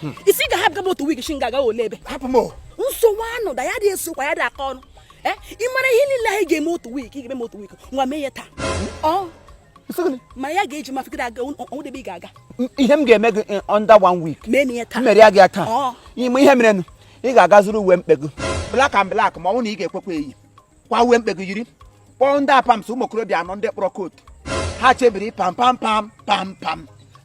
hmm. ị sị ga hapụ gaba otu week shi nga ga ole ebe nsogbu anụ da ya dị esokwa ya dị aka ọnụ eh, ị mara ihe niile anyị ga-eme otu week ị ga-eme otu week nwa mee ya taa hmm? ma ya ga-eji mafegide aga o nwedị ebe ị ga-aga ihe m ga-eme gị eh, under one week mere ya gị ya taa ịma ihe merenụ ị ga-aga zụrụ uwe mkpe gị black and black ma ọ bụ na ị ga-ekwekwa eyi kwa uwe mkpe gị yiri kpọọ ndị Apams ụmụ okorobịa anọ ndị kpọrọ coat ha chebiri pam pam pam pam pam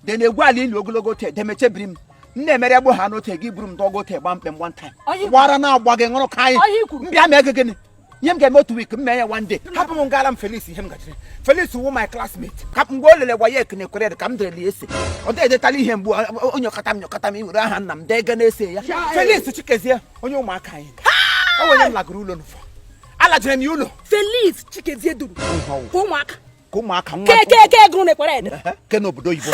de na-egwu ala ili ogologo otu edemechebiri m m na-emere egbo ha n'otu gị buru m dọgo otu gba mkpe m one time gbara na agba gị ṅụrụ ka anyị m bịa mee gị gịnị ihe m ga-eme otu week m mee ya one day hapụ m gara m Felix ihe m gachiri Felix wụ my classmate ka mgbe o lele WAEC enekwere ka m derele essay ọ dịghị edetala ihe mgbu o nyokata m nyokata m iwere aha nna m dee ga na essay ya Felix Chikezie onye ụmụaka anyị enwere m lagoro ụlọ n'ụfọ alajere m ya ụlọ Felix Chikezie duru ka ụmụaka ka ụmụaka nwa kekeke ego na-ekwere ede ke n'obodo oyibo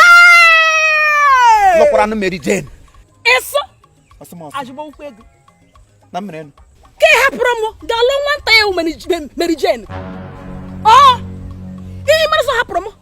lụkwara nụ Mary Jane ịsụ ajụba ụkwụ ego na mmere nụ ke hapụrụ m ga-alụ nwata ya Mary Jane ọ ihe mere sọ hapụrụ m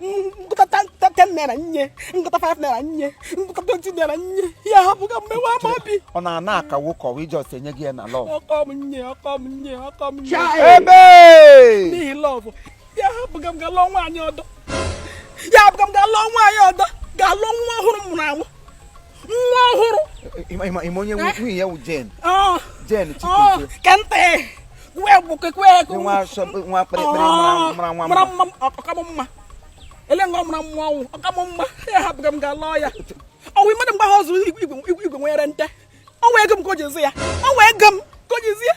m kụta 10 naira nye m kụta 5 naira nye m kụta 20 naira nye ya hapụga m mewe ama obi ọ na-ana akawo ka ọwa ijọs enye gị ya na love ọkọ m nye ọkọ m nye ọkọ m nye ebe n'ihi love ya hapụga m ga lụọ nwaanyị ọdọ ya hapụga m ga lụọ nwaanyị ọdọ ga lụọ nwa ọhụrụ m mụrụ anwụ nwa ọhụrụ ịma onye eh? nwunye ya wụ Jane oh. Jane oh, kente kwe gbuke kwe nwa kpịrịkpịrị oh, mara nwa mara mma ọ ka mụ mma ele nga ọ mara mma ọ wụ ọ ka mụ mma ya hapụga m ga lụọ ya ọ wụ mmadụ mgbe ha ọzọ igwe nwere nte ọ wụ ego m ka o ji ezi ya ọ wụ ego m ka o ji ezi ya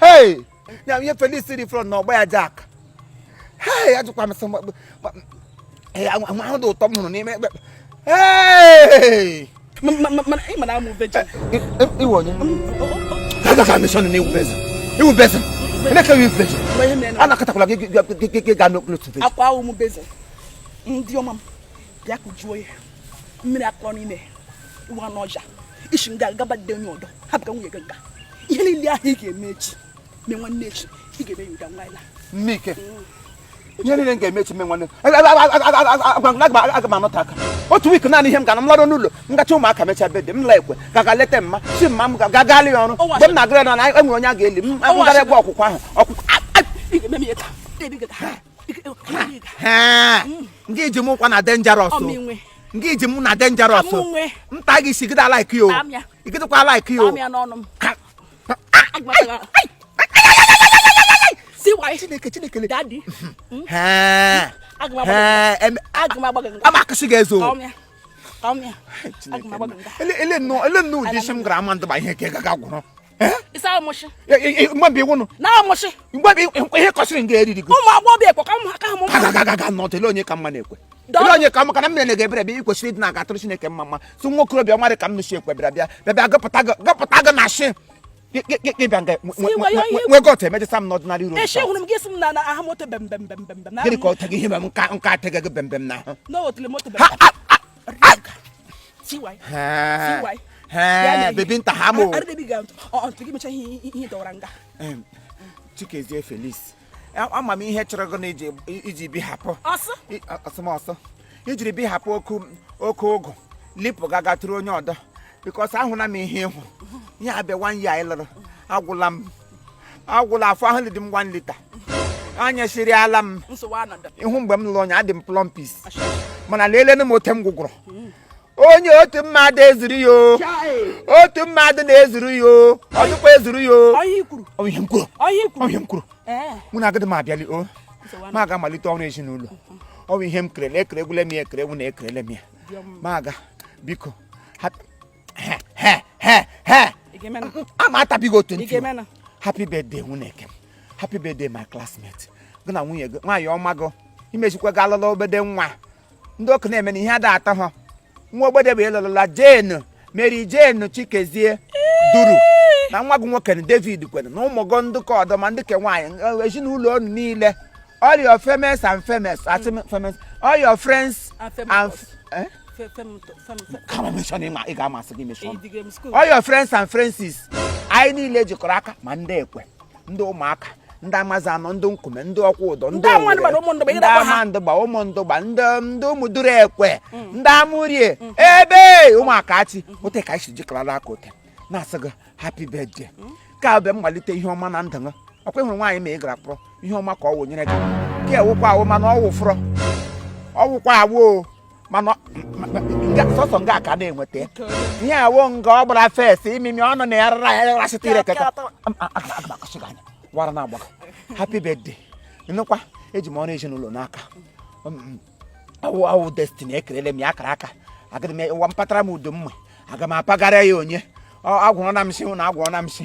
hei ya ihe Felix dị front na ọ gba ya Jack hei ajụkwa m sị ahụ dị ụtọ m hụrụ n'ime ekpe hei mana amụ vecha iwe onye agaghị amịsọ na iwu beza iwu beza emeka iwu beza a na-akatakwala gị ga n'okpuru otu beza akwa ahụ m basin dị ọma m bịa kụjuo ya mmiri akọ n'ime ụwa n'ọja ị si nga gaba di onye ọdọ hapụga nwunye gị nga ihe niile ahụ ị ga-eme echi mee nwanne echi ị ga-eme ya ụda nwaanyị nne ike ihe niile m ga-eme echi mee nwanne aga m anọta aka otu week naanị ihe m gara m lọrọ n'ụlọ m gacha ụmụaka mechaa bede m la ekwe ka ga leta mma si mma m ga gaalị ya ọrụ mgbe m na-agara na enwere onye a ga-eli m gara egwu ọkwụkwụ ahụ ọkwụkwụ nga iji m ụkwa na dangerous nga iji m na dangerous nta gị si gịda like you igidekwa like you chineke chineke amakụsị gị ezo ele nnọọ ụdị isi m gara amandụgba ihe ka ị gaga gwụrụ Eh? ịsa amụchị mgbabi iwu nụ na amụchị mgbabi ihe kọsịrị nga eriri gị ụmụ agbọghọ ekwe ka ha mụ agaga nọ tele onye ka mma na ekwe tele onye ka mma ka na mmiri na-ege ebere bịa ị kwesịrị ịdị na-agatụrụ Chineke mma mma si nwa okorobịa ọmarị ka m nụsi ekwe bịara bịa bịa bịa gụpụta gị na shị ịbịa nga nwe gọt emejesa m n'ọdịnala iro gịnị ka ọ teghị ihe m nka nka ateghị gị bembem na ahụ baby nta ha mụ chikezie felix ama m ihe chụrụ gị iji bi hapụ ọsọmọsọ ijiri bi hapụ oke ụgụ lipụ gaga tụrụ onye ọdọ because ahụla m ihe ịhụ ihe a bụ one year anyị lụrụ agwụla m agwụla afọ ahụ dị m one litre anya siri ala m ihu mgbe m lụrụ onye adị m plumpish mana leelenu m ote m gwụgwụrụ onye otu mmadụ ezuru ya otu mmadụ na-ezuru ya otukwa ezuru ya onye m kwuru onye m kwuru mụ na agadi m abịali o ma aga malite ọrụ ezinụlọ ọ bụ ihe m kerele ekeregwule m ya ekeregwu na ekerele m ya ma aga biko ama atabighị otu ntị happy birthday nwunye eke happy birthday my classmate gị na nwunye gị nwaanyị ọma gị imezikwa gị alụla obede nwa ndị ọkụ na-eme na ihe a da atọ ha nwa obede bụ ịlụlụla jane mary jane chikezie duru na nwa gị nwoke na david kwere na ụmụ gị ndị ke ọdọ ma ndị ke nwaanyị ezinụlọ unu niile all your famous and famous all your friends and ka m mention ịma ị ga-amasị gị mention all your friends and friendses anyị niile jikọrọ aka ma ndị ekwe ndị ụmụaka ndị amazanọ ndị nkume ndị okwudọ ndị ndị amandụgba ụmụndụgba ndị ndị ụmụduru ekwe mm. ndị amụrie mm. ebe ụmụaka achị mm. ote ka anyị si jikọrọ aka ote na-asị gị happy birthday ka a bụ mmalite ihe ọma na ndụ gị ọkwa ịhụrụ nwaanyị ọma ị gara kpọrọ ihe ọma ka ọ wụnyere gị ka ọ wụkwa awụ mana ọ wụfụrọ ọ wụkwa awụ mana sọsọ nga ka na-enweta ihe a wụ nga ọ gbara face imimi ọnụ na ya rara ya rasịta ire keke wara na agbaka happy birthday nnukwa eji m ọrụ ezinụlọ n'aka ọ wụ destiny ekerele m ya akara aka agadi m ụwa m patara m udo mma aga m apagara ya onye agwụrụ na m si na agwụrụ na m si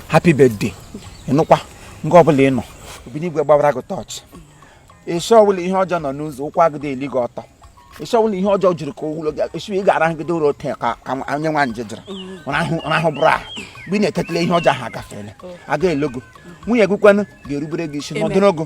happy birthday ị nọkwa nga ọbụla ị nọ obinigwe gbawara gị tọọchị ishi ọbụla ihe ọjọọ nọ n'ụzọ ụkwụ agịdị eli gị ọtọ ishi ọbụla ihe ọjọọ jiri ka ụlọ gị esi ị ga-arahụgide ụra ote ka ka onye nwa nje jiri rahụbe ụra ahụ mgbe ị na-etetala ihe ọjọọ ahụ agafeela aga elogo nwunye gị kwanụ ga-erubere gị isi n'ọdịnogo